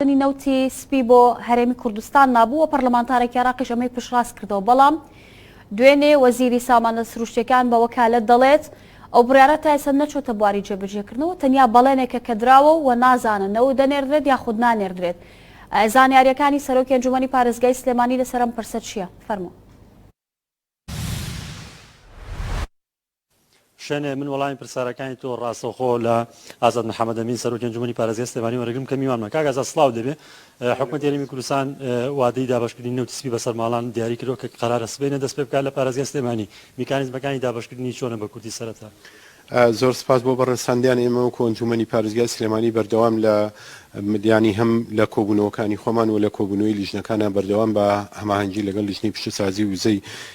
کردنی نەوتی سپی بۆ هەرێمی کوردستان مابوو و پەرلەمانتارێکی عێراقیش ئەمەی پشتڕاست کردەوە، بەڵام دوێنێ وەزیری سامانە سروشتییەکان بە وەکالەت دەڵێت، ئەو بڕیارە تا ئێستا نەچووەتە بواری جێبەجێکردنەوە، تەنیا بەڵێنێکە کە دراوە و نازانن نەوت دەنێردرێت یاخود نانێردرێت. زانیارییەکانی سەرۆکی ئەنجوومەنی پارێزگای سلێمانی لەسەر ئەم پرسە چییە؟ فەرموو. شێنێ من وەڵامی پرسارەکانی تۆ ڕاستەوخۆ لە ئازاد محەممەد ئەمین سەرۆکی ئەنجومەنی پارێزگای سلێمانی وەرەگرم کە میوانمە کاک ئازاد سڵاو دەبێ حکومەت هەرێمی کوردستان وادەی دابەشکردنی نەوتی سپی بەسەر ماڵان دیاری کردووە کە قەرارە سبەینە دەست پێ بکات لە پارێزگای سلێمانی میکانیزمەکانی دابەشکردنی چۆنە بە کوردی سەرەتا زۆر سپاس بۆ بەڕێساندیان ئێمە و کۆنجومەنی پارێزگای سلێمانی بەردەوام لە مدیانی هەم لە کۆبوونەوەکانی خۆمان و لە کۆبوونەوەی لیژنەکانە بەردەوام بە هەماهەنگی لەگەڵ لیژنەی پیشەسازی وزەی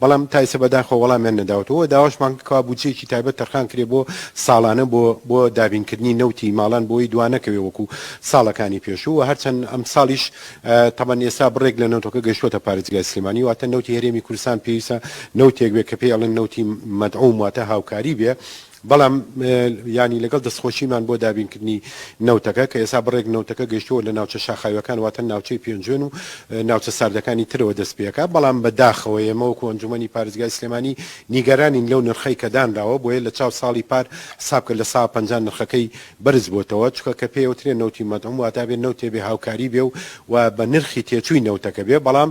بەڵام تا ئێستا بەداخەوە وەڵامیان نەداوەتەوە و داواشمان کرد کەوا بودجەیەکی تایبەت تەرخان کرێ بۆ ساڵانە بۆ بۆ دابینکردنی نەوتی ماڵان بۆ ئەوەی دوا نەکەوێ وەکو ساڵەکانی پێشوو و هەرچەند ئەمساڵیش تەبەن ئێستا بڕێک لە نەوتەکە گەیشتووەتە پارێزگای سلێمانی واتە نەوتی هەرێمی کوردستان پێویستە نەوتێک بێ کە پێی ئەڵێن نەوتی مەدعوم واتە هاوکاری بێ بەڵام یانی لەگەڵ دەستخۆشیمان بۆ دابینکردنی نەوتەکە کە ئێستا بڕێک نەوتەکە گەیشتووە لە ناوچە شاخاویەکان واتە ناوچەی پێنجوێن و ناوچە ساردەکانی ترەوە دەست پێکا بەڵام بە داخەوە ئێمە وەکو ئەنجومەنی پارێزگای سلێمانی نیگەرانین لەو نرخەی کە دانراوە بۆیە لە چاو ساڵی پار حساب کە لە سا پەنجا نرخەکەی بەرز بۆتەوە چکە کە پێوترێ نەوتی مەدعوم واتابێ نەوتێ بێ هاوکاری بێ و و بە نرخی تێچووی نەوتەکە بێ بەڵام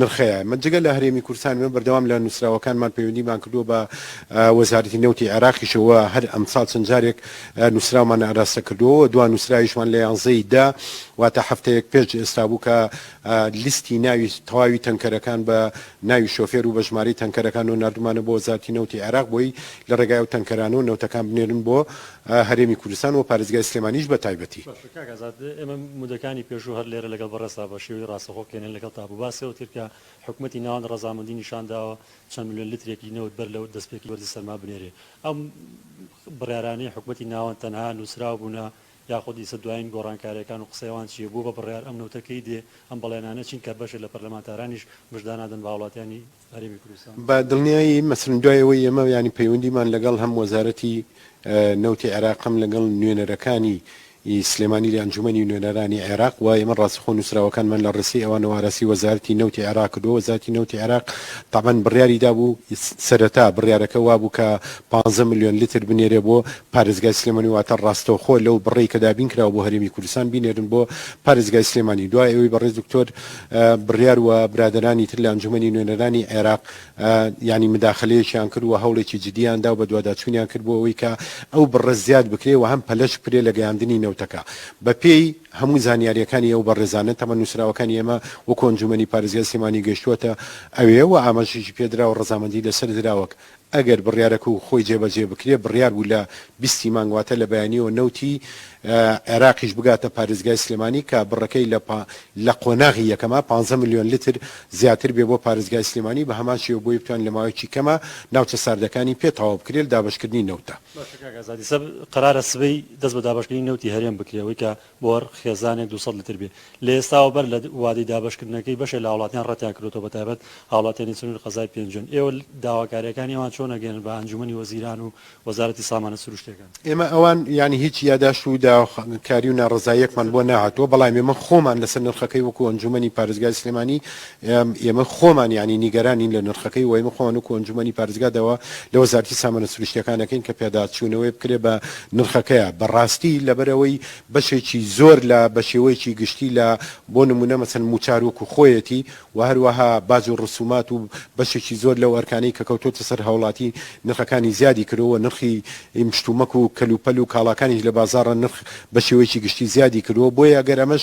نرخەیە من جگە لە هەرێمی کوردستان ئێمە بەردەوام لە نوسراوەکانمان پەیوەندیمان کردووە بە وەزارەتی نەوتی عێراقیشەوە و هەر ئەمساڵ چەند جارێک نوسراومان ئاراستە کردووە و دوا نوسراویشمان لە یانزە ی دە واتە هەفتەیەک پێش ئێستا بوو کە لیستی ناوی تەواوی تەنکەرەکان بە ناوی شۆفێر و بە ژمارەی تەنکەرەکان و ناردومانە بۆ وەزارەتی نەوتی عێراق بۆی لە ڕێگای ئەو تەنکەرانەوە نەوتەکان بنێرن بۆ هەرێمی کوردستان و پارێزگای سلێمانیش بە تایبەتی. کاک ئازاد ئێمە مدەکانی پێشوو هەر لێرە لەگەڵ بەڕێزتا بە شێوەی ڕاستەخۆ کێنێن لەگەڵتا بوو باسی ئەوتکرد کە حکومەتی ناوەند ڕەزامەندی نیشان داوە چەند ملیۆن لترێکی نەوت بەر لە دەستپێکی وەرزی سەرما بنێرێ ئەم بڕیارانەی حکومەتی ناوەند تەنها نووسراو بوونە یاخود ئیسە دوایین گۆڕانکاریەکان و قسەی ئەوان چییە بۆ بە بڕیار ئەم نەوتە کەی دێ ئەم بەڵێنانە چین کە بەشێ لە پەرلەمانتارانیش مژدانادەن بە هاوڵاتیانی بە دڵنیایی مەسرن دوای ئەوەی ئێمە یانی پەیوەندیمان لەگەڵ هەم وەزارەتی نەوتی عێراق هەم لەگەڵ نوێنەرەکانی ی سلێمانی لە ئەنجومەنی نوێنەرانی عێراق وە ئێمە ڕاستەخۆ نوسراوەکانمان لە ڕێسەی ئەوانەوە ئاراستەی وەزارەتی نەوتی عێراق کردوە وەزارەتی نەوتی عێراق تەبەن بڕیاری دابوو سەرەتا بڕیارەکە وابوو کە پانزە ملیۆن لتر بنێرێ بۆ پارێزگای سلێمانی واتە ڕاستەوخۆ لەو بڕەی کە دابین کراوە بۆ هەرێمی کوردستان بینێرن بۆ پارێزگای سلێمانی دوای ئەوەی بەڕێز دکتۆر بڕیار و برادەرانی تر لە ئەنجومەنی نوێنەرانی عێراق یانی مداخلەیەکیان کرد و هەوڵێکی جدیان دا و بەدواداچوونیان کرد بۆ ئەوەی کە ئەو بڕە زیاد بکرێ و هەم پەلەش بکرێ لە گەیاندنی نەوتەکە بە پێی هەموو زانیاریەکانی ئەو بەڕێزانە تەمە نووسراوەکانی ئێمە وەکو ئەنجومەنی پارێزگای سلێمانی گەیشتووەتە ئەوێ و ئاماژەشی پێ درا و ڕەزامەندی لە سەر دراوەک ئەگەر بڕیارەکەو خۆی جێبەجێ بکرێ بڕیار بوو لە بیست ی مانگ واتە لە بەیانیەوە نەوتی عێراقیش بگاتە پارێزگای سلێمانی کە بڕەکەی لە لە قۆناغی یەکەما پانزە ملیۆن لتر زیاتر بێ بۆ پارێزگای سلێمانی بە هەمان شێوە بۆی بتوانێ لە ماوەیەکی کەما ناوچە ساردەکانی پێ تەواو بکرێ لە دابەشکردنی نەوتدا. باشە کاک ئازادی سەب قەرارە سبەی دەست بە دابەشکردنی نەوتی هەرێم بکرێ ئەوەی کە بۆر، خێزانێک دوو سەد لتر بێ. لە ئێستاوە بەر لە وادەی دابەشکردنەکەی بەشێ لە هاوڵاتیان ڕەتیان کردۆتەوە بەتایبەت هاوڵاتیانی سنوری قەزای پێنجوێن. ئێوە داواکاریەکانی ئەوان چۆن ئەگەیەنن بە ئەنجومەنی وەزیران و وەزارەتی سامانە سروشتیەکان؟ ئێمە ئەوان یانی هیچ یاداشت و داواکاری و ناڕەزاییەکمان بۆ نەهاتووە، بەڵام ئێمە خۆمان لەسەر نرخەکەی وەکو ئەنجومەنی پارێزگای سلێمانی ئێمە خۆمان یانی نیگەرانین لە نرخەکەی و ئێمە خۆمان وەکو ئەنجومەنی پارێزگا داوا لە وەزارەتی سامانە سروشتییەکان دەکەین کە پێداچوونەوەی بکرێت بە نرخەکەیا بە ڕاستی لەبەرئەوەی بەشێکی زۆر لە بە شێوەیەکی گشتی لە بۆ نموونە مەسەن مووچار وەکو خۆیەتی و هەروەها باج و ڕسوومات و بەشێکی زۆر لەو ئەرکانەی کە کەوتۆتە سەر هاوڵاتی نرخەکانی زیادی کردووە نرخی مشتومەک و کەلوپەل و کاڵاکانیش لە بازاڕ نرخ بە شێوەیەکی گشتی زیادی کردووە بۆیە گەر ئەمەش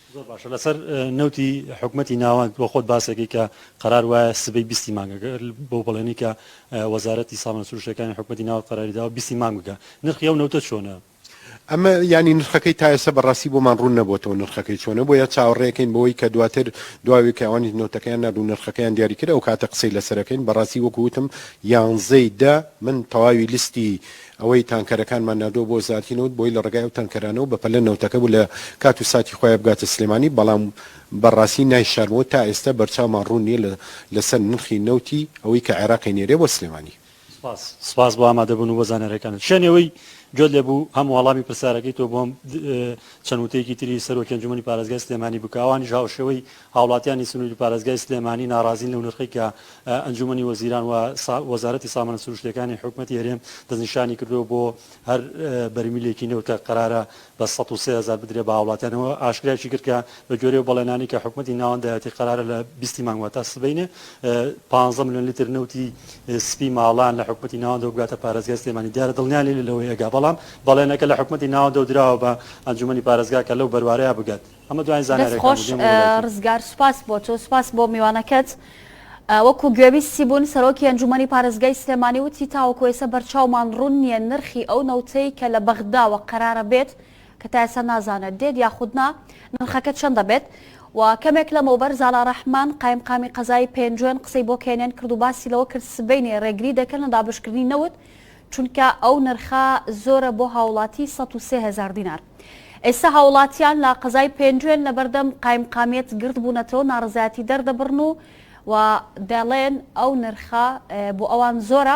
زۆر باشە لەسەر نەوتی حکومەتی ناوەند بۆ خۆت باسێکی کە قەرار وایە سبەی بیستی مانگەکە بۆ بەڵێنی کە وەزارەتی سامان سروشتەکانی حکومەتی ناوەند قەراری داوە بیستی مانگ بکە نرخی ئەو نەوتە چۆنە؟ ئەمە یانی نرخەکەی تا ئێستا بەڕاستی بۆمان ڕوون نەبۆتەوە نرخەکەی چۆنە بۆیە چاوەڕێکەین بەوەی کە دواتر دواوی کە ئەوانی نەوتەکەیان ناردو نرخەکەیان دیاری کرد ئەو کاتە قسەی لەسەرەکەین بەڕاستی وەکو وتم یانزەی دە من تەواوی لیستی ئەوەی تانکەرەکانمان ناردووە بۆ وەزارەتی نەوت بۆی لە ڕێگای ئەو تانکەرانەوە بە پەلە نەوتەکە بوو لە کات و ساتی خۆیا بگاتە سلێمانی بەڵام بە ڕاستی نایشارمەوە تا ئێستا بەرچاومان ڕوون نیە لە لە سەر نرخی نەوتی ئەوەی کە عێراق ئەینێرێ بۆ سلێمانی. سپاس سپاس بۆ ئامادە بوون و بۆ زانیاریەکانت شێن ئەوەی گوێت لێ بوو هەم وەڵامی پرسیارەکەی تۆ بۆم چەند وتەیەکی تری سەرۆکی ئەنجومەنی پارێزگای سلێمانی بکە ئەوانیش هاوشێوەی هاوڵاتیانی سنوری و پارێزگای سلێمانی ناڕازین لەو نرخەی کە ئەنجومەنی وەزیران و وەزارەتی سامانە سروشتیەکانی حکومەتی هەرێم دەستنیشانی کردووە بۆ هەر بەرمیلێکی نەوت کە قەرارە بە سەد و سێ هەزار بدرێت بە هاوڵاتیانەوە ئاشکرایشی کرد کە بە گوێرەی و بەڵێنانەی کە حکومەتی ناوەند دایەتی قەرارە لە بیست ی مانگ واتە سبەینێ پازدە ملیۆن لیتر نەوتی سپی ماڵان لە حکومەتی ناوەندەوە بگاتە پارێزگای سلێمانی دیارە دڵنیان لێ لەوەی ئەگا بەڵام بەڵێنەکە لە حکومەتی ناوەندەوە دراوە بە ئەنجومەنی پارێزگا کە لەو بەروارەیا بگات. ئەمە دوایین دەست زانیاریەکان بوو خۆش دێمەوە لایتۆ. ڕزگار سوپاس بۆ تۆ سوپاس بۆ میوانەکەت وەکو گوێبیستی بوون سەرۆکی ئەنجومەنی پارێزگای سلێمانی وتی تاوەکو ئێسە بەرچاومان ڕوون نیە نرخی ئەو نەوتەی کە لە بەغداوە قەرارە بێت کە تا ئێسە نازانێت دێت یاخود نا نرخەکە چەند دەبێت و کەمێک لەمەوبەر زالا ڕەحمان قایمقامی قەزای پێنجوێن قسەی بۆ کێنێن کرد و باسی لەوە کرد سبەینێ ڕێگری دەکەن لە دابەشکردنی نەوت چونکە ئەو نرخە زۆرە بۆ هاوڵاتی سەد و سێ هەزار دینار ئێستا هاوڵاتیان لە قەزای پێنجوێن لەبەردەم قایمقامیەت گردبونەتەوە ناڕەزایەتی دەردەبڕن و و دەڵێن ئەو نرخە بۆ ئەوان زۆرە.